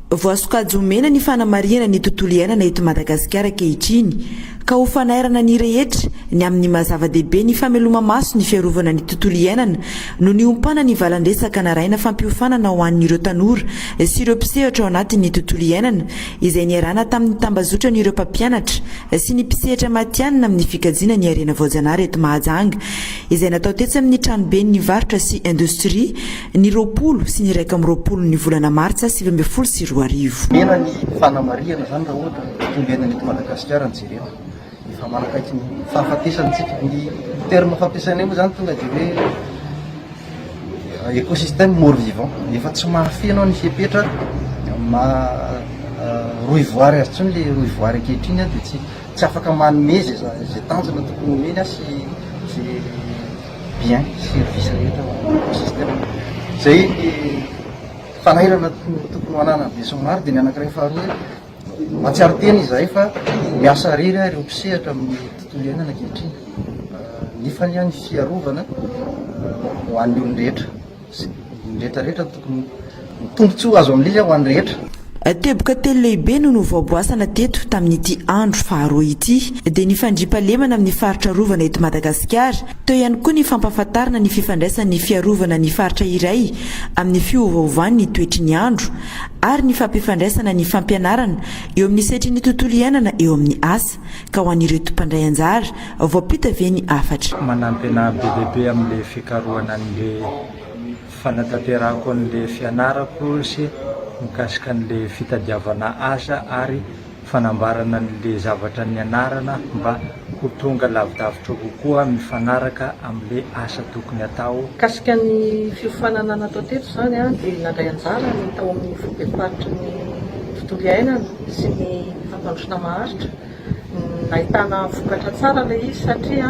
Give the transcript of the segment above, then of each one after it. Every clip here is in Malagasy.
Voasokajy ho mena ny fanamarihana ny tontolo iainana eto Madagasikara ankehitriny ka ho fanairana ny rehetra ny amin'ny maha zava-dehibe ny fameloma-maso ny fiarovana ny tontolo iainana no niompana ny valan-dresaka naraina fampiofanana ho an'ireo tanora sy ireo mpisehatra ao anatin'ny tontolo iainana izay niarahana tamin'ny tambazotran'ireo mpampianatra sy ny mpisehatra matihanina amin'ny fikajiana ny harena voajanahary eto Mahajanga, izay natao tetsy amin'ny tranoben'ny varotra sy indostria, ny roapolo sy ny iraika amby roapolo ny volana martsa sivy ambin'ny folo sy roa arivo. Omena ny fanamarihana izany raha ohatra ka ombiaina ny eto Madagasikara ny jerena. Efa manakaiky ny fahafatesana isika. Ny terme fampiasainay moa izany tonga dia hoe euh, écosystème mort vivant. Efa tsy mahafeno ny fepetra ma euh, rohy voary azy tsony le rohy voary ankehitriny dia tsy tsy afaka manome zay zay tanjona tokony homeny azy sy zay bien service rehetra écosystème. Zay ny fanahirana tokony ho ananan'ny besinimaro dia ny anankiray faharoa Mahatsiaro tena izahay fa miasa irery ary ireo mpisehatra amin'ny tontolo iainana ankehitriny. Nefa anie ny fiarovana ho an'ny olon-drehetra sy ny rehetra rehetra no tokony ho tombontsoa azo amin'izy ho an'ny rehetra. Teboka telo lehibe no novaoboasana teto tamin'ity andro faharoa ity, dia ny fandriampahalemana amin'ny faritra arovana eto Madagasikara, teo ihany koa ny fampahafantarana ny fifandraisan'ny fiarovana ny faritra iray amin'ny fiovaovan'ny toetry ny andro, ary ny fampifandraisana ny fampianarana eo amin'ny setrin'ny tontolo iainana eo amin'ny asa ka ho an'ireto mpandray anjara, voampita ve ny hafatra? Manampy anah be dia be amin'ilay fikarohana an'ilay fanatanterahako an'ilay fianarako sy mikasika an'ilay fitadiavana asa ary. fanambarana an'le zavatra nianarana mba ho tonga lavidavitra kokoa mifanaraka amin'le asa tokony atao. Mikasika ny fiofanana natao teto izany dia nandray anjara ny tao amin'ny foibem-paritry ny tontolo iainana sy ny fampandrosoana maharitra, nahitana vokatra tsara ilay izy satria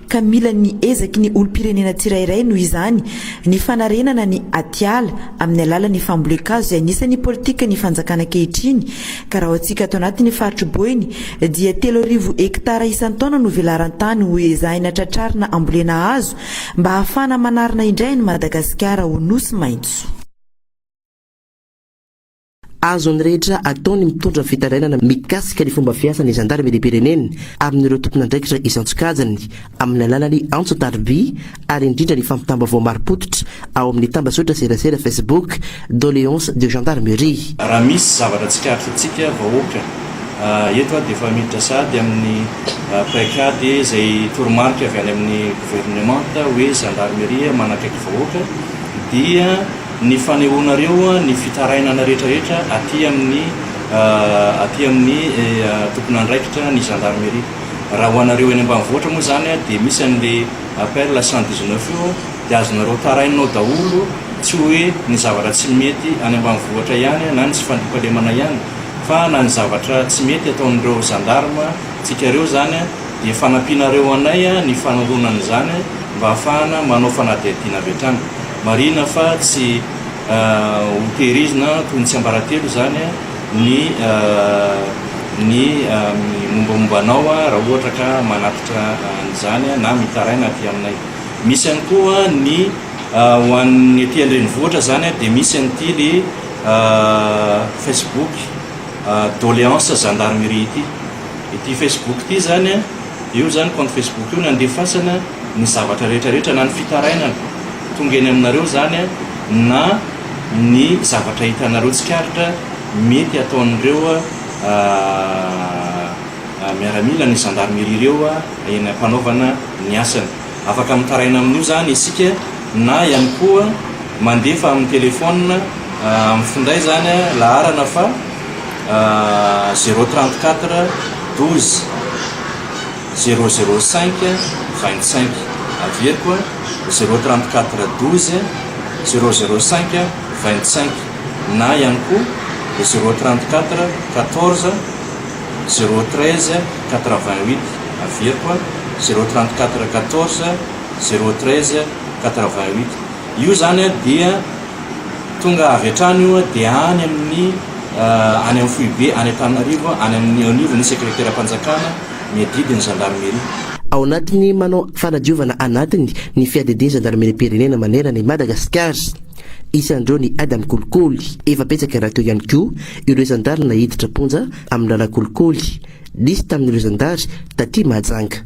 ka mila ny ezaky ny olom-pirenena tsirairay noho izany ny fanarenana ny atiala amin'ny alalan'ny fambolen-kazo izay anisan'ny politikan'ny fanjakana ankehitriny ka raha antsika ato anatin'ny faritry Boeny dia telo arivo hektara isan-taona no velaran-tany ho ezahina tratrarina ambolena hazo mba hahafahana manarina indray an'i Madagasikara ho nosy maitso. Azon'ny rehetra atao ny mitondra fitarainana mikasika ny fomba fiasan'ny zandarimeriam-pirenena amin'ireo tompon'andraikitra isan-tsokajiny amin'ny alalan'ny antso tariby ary indrindra ny fampitam-baovao marim-pototra ao amin'ny tambazotra serasera Facebook Doléances de Gendarmerie. Raha misy zavatra tsikaritry antsika vahoaka eto aho dia efa miditra sahady amin'ny paikady izay toromarika avy any amin'ny governemanta hoe zandarmeria manakaiky vahoaka dia Ny fanehoanareo ny fitarainana rehetrarehetra aty amin'ny aty amin'ny tompon'andraikitra ny gendarmerie. Raha ho anareo eny ambanivohitra moa izany dia misy an'ilay appel cent dix neuf io dia azonareo tarainina ao daholo tsy hoe ny zavatra tsy mety any ambanivohitra ihany na ny tsy fandriampahalemana ihany fa na ny zavatra tsy mety ataon'ireo gendarme tsika ireo izany dia fanampianareo anay ny fanoroana an'izany mba hahafahana manao fanadihadiana avy hatrany. Marihina fa tsy hotehirizina toy ny tsiambaratelo izany ny ny mombamomba anao raha ohatra ka manatitra an'izany na mitaraina aty aminay. Misy ihany koa ny ho an'ny aty an-drenivohitra izany dia misy an'ity le Facebook doléance gendarmerie ity. Ity Facebook ity izany, io izany compte Facebook io no andefasana. ny zavatra rehetra rehetra na ny fitarainana tonga eny aminareo zany na ny zavatra hitanareo tsikaritra mety ataon'ireo miaramila ny gendarmerie ireo eny ampanaovana ny asany. Afaka mitaraina amin'io zany isika na ihany koa mandefa amin'ny telephone amin'ny finday zany laharana fa zero trente quatre douze. zéro zéro cinq vingt cinq averiko a zéro trente quatre douze zéro zéro cinq vingt cinq na ihany koa zéro trente quatre quatorze zéro treize quatre vingt huit averiko a zéro trente quatre quatorze zéro treize quatre vingt huit io zany a dia tonga avy hatrany io a dia any amin'ny any amin'ny foibe any Antananarivo any amin'ny au niveau ny secretaire am-panjakana ny adidy ny zandarmeria. Ao anatin'ny manao fanadiovana anatiny ny fiadidian-jandarmeriam-pirenena manerana i Madagasikara. Isan'ireo ny ady amin'ny kolikoly. Efa betsaka rahateo ihany koa ireo zandary naiditra am-ponja amin'ny lalànkolikoly. Nisy tamin'ireo zandary taty Mahajanga.